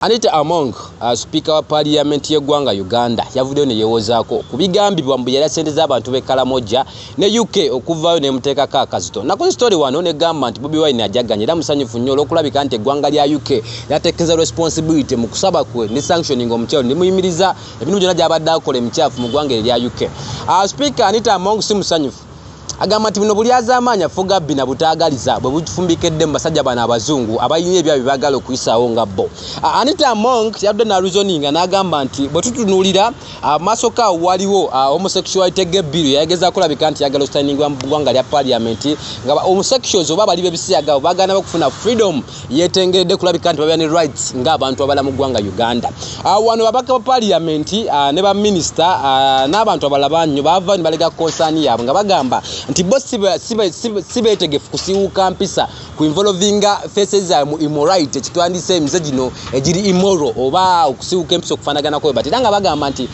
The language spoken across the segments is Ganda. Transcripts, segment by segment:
Anita Among, uh, sipiika wa paaliyamenti y'eggwanga Uganda yavuddeyo ne yeewozaako ku bigambibwa mbu yalya ssente z'abantu b'e Kalamoja ne UK okuvaayo n'emuteekako akazito. Nakoze sitori wano n'egamba nti Bobi Wine ajaganya era musanyufu nnyo olw'okulabika nti eggwanga lya UK lyateekeza responsibility mu kusaba kwe ne sanctioning omukyalo ne muyimiriza ebintu byonna gy'abadde akola emikyafu mu ggwanga erya UK. Uh, sipiika Anita Among si musanyufu. Agamba nti buno bulyazaamaanyi Afugabbi na butaagaliza bwe bufumbikedde mu basajja bano abazungu abalina ebya bye baagala okuyisaawo nga bo. Anita Among yadde naluzoninga n'agamba nti bwe tutunuulira amaasoka waliwo homosexuality ge bbiru yayageza kulabika nti yagala ositayiningibwa mu ggwanga lya parliament nga homosexuals oba abali b'ebisiyaga baagala nabo okufuna freedom yetengeredde kulabika nti babeera ne rights ng'abantu abala mu ggwanga uganda ah, wano babaka ba paliyamenti ah, ne baminisita ah, n'abantu abala banyo baava ne balega konsaani yaabwe nga bagamba nti bo si beetegefu kusiwuuka mpisa ku involovinga fese zaabwe mu imorite ekitwandisa emize gino egiri imoro oba okusiwuuka empisa okufaanaganako bwe bati era nga bagamba nti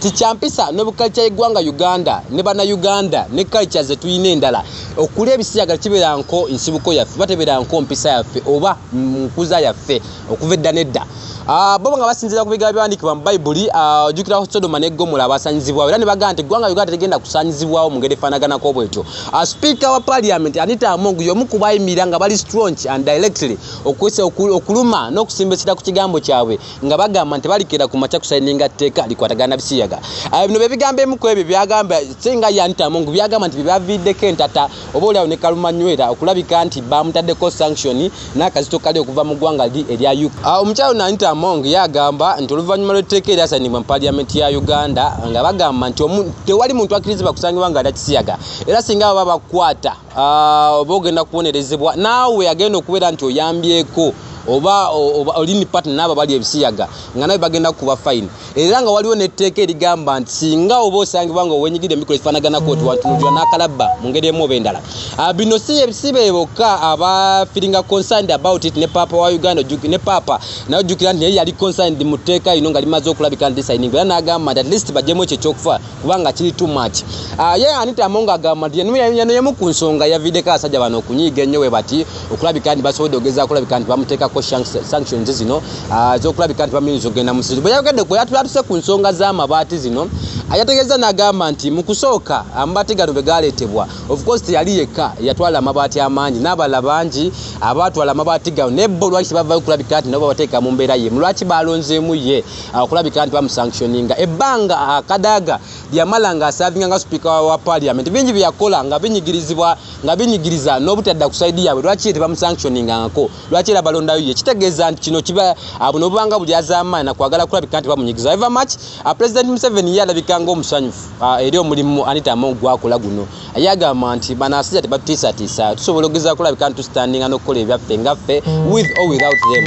ti kyampisa ne bukalica y'eggwanga uganda ne bana uganda ne kalica ze tulina endala okulya ebisiyaga kibeera nko nsibuko yaffe oba tebeera nko mpisa yaffe oba nkuza yaffe okuva edda nedda ah, bo nga basinziira ku bigaa biwandikibwa mu bayibuli ah, ojukiraho sodoma ne gomola abasanyizibwawo era ne bagamba nti eggwanga uganda tegenda kusanyizibwawo mu ngeri efaanaganako bwetyo ah, sipiika wa paliamenti anita amongu y'omu ku bayimira nga bali strong and directly okuluma n'okusimba ekira ku kigambo kyabwe nga bagamba nti balikera ku makya kusayininga tteeka likwatagana bisiyaga ah, bino byebigambo emu ku ebyo byagamba singa yantamu ngu byagamba nti byebaviiddeko entata oba oliawo ne kalumanywera okulabika nti bamutaddeko sanction n'akazito kali okuva mu ggwanga li erya uk ah, omukyalo nanita among yagamba nti oluvannyuma lw'etteeka eryasayinibwa mu paliyamenti ya uganda nga bagamba nti tewali muntu akkirizibwa kusangibwa nga alya kisiyaga era singa baba bakwata Ah, oba ogenda kubonerezebwa naawe agenda okubeera nti oyambyeko oba olini patna naabo bali ebisiyaga nga nawe bagenda kukuba fine era nga waliwo netteeka erigamba nti singa oba osangibwa nga owenyigidde emikolo ekifanaganaku ti wantunujula nakalabba mu ngeri emu oba endala ah, bino si ebisibe bokka aba feelinga concerned about it ne paapa wa uganda ne paapa naye ojjukira nti naye yali concerned mu tteeka lino nga limaze okulabika nti sayininga era nagamba nti at least bajemu ekyo ekyokufa kubanga kiri too much ah, ye anita amonga agamba nti yano yemu ku nsonga yaviideko abasajja bano okunyiiga ennyo we bati okulabika nti basobodde okugeza kulabika nti bamuteekako sanctions zino ah, zokulabika nti bamuyinza okugenda musizi bwe yayogedde ku yatulatuuse ku nsonga z'amabaati zino ayategeeza n'agamba nti mu kusooka amabaati gano bwe gaaleetebwa ofcourse teyali yekka yatwala amabaati amaangi n'abala bangi abaatwala amabaati gano naye bo lwaki tebavayo kulabika nti nabo babateeka mu mbeera yemu lwaki baalonzeemu ye akulabika nti bamusanctioninga ebbanga ah, kadaga lyamala nga asavinga nga sipiika wa parliament bingi byeyakola nga binyigirizibwa nga binyigiriza n'obutadda ku saidi yaabwe lwaki tebamusanctioningangako lwaki era balondayo ye kitegeeza nti kino kiba ah, buno obubanga buli azaamaana kwagala kulabika nti bamunyigiza eva mach ah, president museveni ye alabika ngaomusanyufu eri omulimu anita among gwakola guno ye agamba nti banasija tebatiisatiisa tusobola ogeza kulabika nti tusitandinga n'okukola ebyaffe ngaffe with or without them